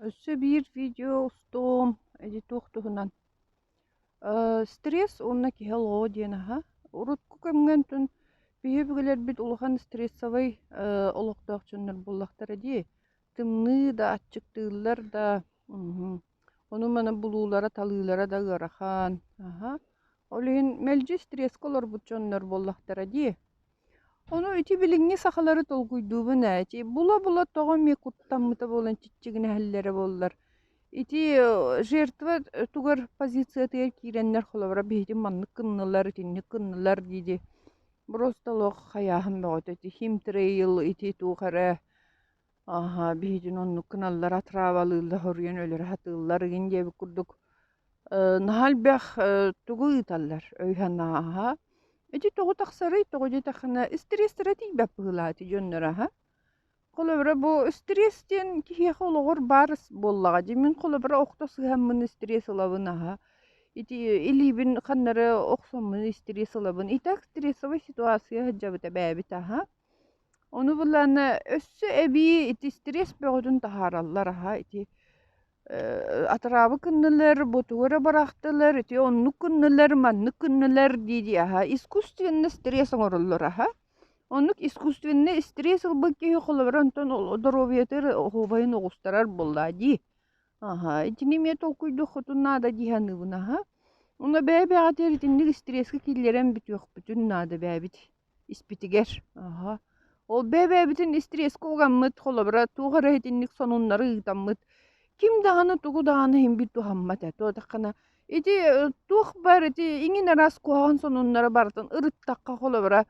Өссө биир видео устуом ити туох туһунан стресс уонна киһи олоҕо диэн аһа урукку кэмҥэнтэн биһи өбүгэлэрбит улахан стрессовай олохтоох дьоннор буоллахтара дии тымныы да аччыктыыллар да ону-маны булуулара талыылара да ыарахан аха ол иһин мэлдьи стресске олорбут дьоннор буоллахтара дии Ону ити билиҥҥи сахалары толкуйдуубун эти. Була-була тоҕо эмиэ куттаммыта буолан чиччигинэһэллэрэ буоллар, ити жертва тугар позициятыгар киирэннэр холобура биһитин маннык гыннылар, итинник гыннылар диди. Просто олох хайааһын бөҕөтө ити him trail ити туох эрэ Аһа, биһигин оннуккун аллара траавалыылла хоруйан өлөрө сатыыллар ыгын диэбит курдук. Э, наһаа элбэх э, тугу ыыталлар өй-санааҕа. Ити тоҕу тахсарый, тоҕу диэтэххинэ истириэстэрэ тиийбэт быһыылаах дьоннор аһа. Холобура бу стресс диэн киһиэхэ олоҕор баар буоллаҕа. Дьэ мин холобура охто сыһаммын стресс ылабын аһа. Ити илиибин ханнары охсоммун стресс ылабын. Итак стрессовай ситуация сылдьабыт эбээбит аһа. Ону буллаанна өссө эбии ити стресс бөҕөтүн таһаараллар аһа ити э, атыраабы кыннылар, ботугура барахтылар, ити оннук кыннылар, маннык кыннылар дии-дии аһа искусственно стресс оҥороллор аһа. Оннук искусственно стресс ылбыт киһи холобура онтон ол доруобуйатыгар оһуобайын оҕустарар буоллаа дии. Аһа итини эмиэ толкуйдуох хотун наада дии саныыбын аһа. Ону бэйэ-бэйэҕитигэр итинник стресска киллэрэн бүтүөхпүтүн наада бэйэбит. испитигэр аха ол бэбэбитин истриэскэ угаммыт холобура туох эрэ итинник сонуннары ыытаммыт ким даҕаны тугу даҕаны иһимбит туһаммат этэ туотаххына ити туох бар ити иҥин араас куһаҕан сонуннары барытын ырыттахха холобура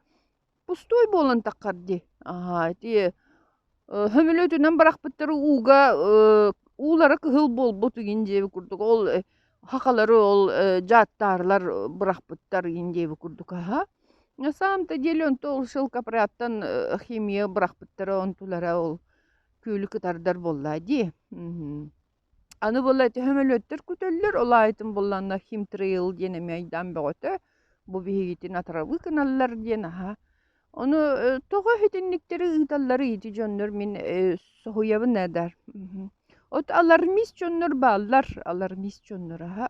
пустой буолан таххар дии аха ити Э, Сөмөлүөтүнэн барахпыттары ууга э, уулара кыһыл буолбут игин диэби курдук ол э, хахалары ол э, жааттаарлар э, бырахпыттар игин диэби курдук аха. На самом-то деле онто ол шелкопрядтан э, химия бырахпыттара онтулара ол күөлү кытардар болла дии. Мгм. Аны була төһөм өлөттөр күтөллөр, ол аайытын булланна химтриил диэн эми айдаан бөҕөтө, бу биһигитин атырабы кыналлар диэн аһа. Ону тоҕо итинниктери ыыталлары ити дьоннор мин соһуйабын эдэр. От алармис дьоннор бааллар, алармис дьоннор аһа.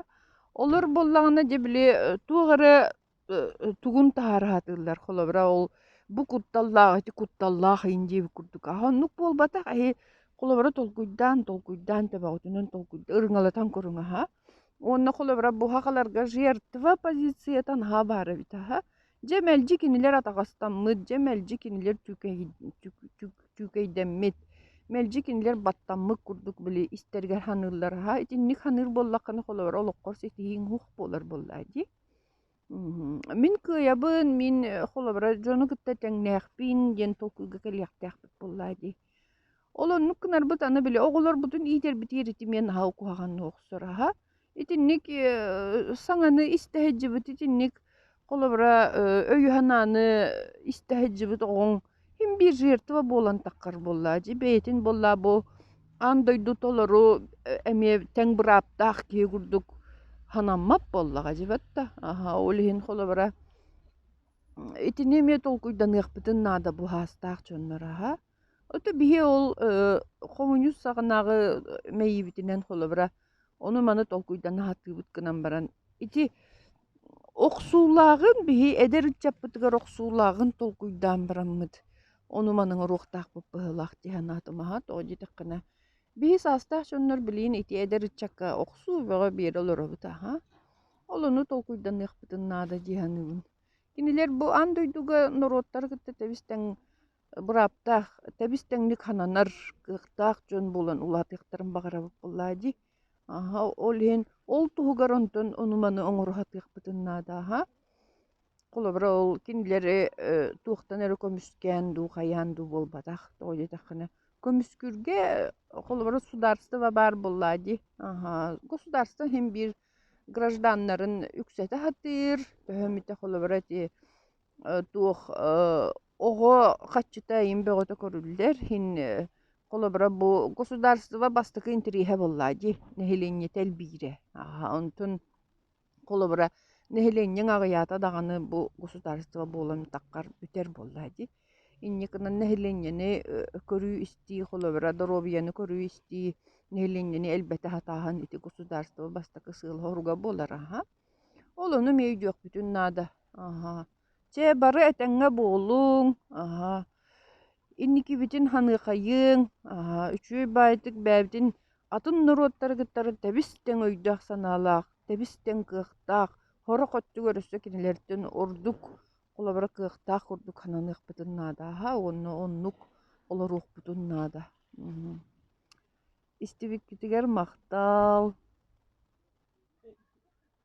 Олор буллаҕына дьэ били туох эрэ тугун таһаараһатыыллар холобура ол бу кутталлаах ити кутталлаах иин диэбит курдук аһа оннук буолбатах эһи холобура толкуйдаан толкуйдаан төбөҕүтүнэн толкуйда ырыҥалатан көрүҥ аһа уонна холобура буһахаларга жертва позициятан аһа баар эбит аһа дьэ мэлдьи кинилэр атаҕастаммыт дьэ мэлдьи кинилэр түүкэйдэммит мэлдьи кинилэр баттаммыт курдук били истэригэр саныыллар аһа итинник саныыр буоллаххына холобура олоххор ситиһииҥ уһук буолар буоллаа дии Мин кыайабын, мин холобура дьону кытта тэҥнээхпин диэн толкуйга кэлиэхтээхпит буоллаа дии. Ол оннук гынарбыт аны били оҕолорбутун иитэрбит иэритимиэ наһаа куһаҕанна охсор аһа. Итинник э, саҥаны истэ сылдьыбыт итинник холобура өй-санааны истэ сылдьыбыт оҕоҥ Һин биир жертва буолан таххар буоллаа, дьи бэйэтин буоллаа бу аан дойду толору эмиэ тэҥ бырааптаах киһи курдук санаммат буоллаҕа дьибэт да. Аһа ол иһин холобура итини эмиэ толкуйданыахпытын наада буһаастаах дьоннор аһа. Ото биһи ол хомуньуус саҕанааҕы мэйиибитинэн холобура Ону маны толкуйдан аһатыыбыт гынан баран, ити охсуулааҕын биһи эдэр ыччаппытыгар охсуулааҕын толкуйдаан бараммыт, ону манан оруохтаахпыт быһыылаах дии санаатым. Аһа тоҕо диэтэххинэ, биһи саастаах дьоннор билигин ити эдэр ыччакка охсуу бөҕө биэрэ олоробут аһа. Ол ону толкуйданныахпытын наада дии саныыбын. Кинилэр бу аан дойдуга норуоттары кытта тэбистэн бырааптаах тэбис-тэҥник хананар кыахтаах дьон буолан улаатыахтарын баҕарабыт буоллаа дии аха ол иһин ол туһугар онтон ону-маны оҥоруһатыахпытын наадааһа холобура ол кинилэри э, туохтан эрэ көмүскээн дуу хайаан дуу буолбатах тоҕо диэтэххинэ көмүскүүргэ холобура судаарыстыба баар буоллаа дии аха государство иһин биир гражданнарын үксэтэ сатыыр төһө эмитэ холобура ити э, туох э, Оҕо хаччыта ийин бөҕөтө көрүллэр. Һин э, холобура бу государство бастакы интириэһэ буоллаа дии. Нэһилиэнньэтэ элбиирэ. Аһа, онтун холобура нэһилиэнньэҥ аҕыйаата даҕаны бу государство буолан таххар бүтэр буоллаа дии. Инникинэн нэһилиэнньэни э, көрүү-истии, холобура доруобуйаны көрүү-истии, нэһилиэнньэни элбэтэ сатааһын ити государство бастакы сыала-соруга буолар аһа. Ол ону мэй өйдүөхпүтүн наада. Аһа. Чэ, бары этэҥҥэ буолуҥ, аһа, инникибитин ханыахайыҥ, аһа, үчүгэй баайтык бэйэбитин атын норуоттары кытары тэбис-тэҥ өйдөөх-санаалаах, тэбис-тэҥ кыахтаах, сорох өттүгэр өссө кинилэртэн ордук холобура кыахтаах курдук сананыахпытын наада, аһа, уонна оннук олоруохпутун наада. Истибиккитигэр махтал.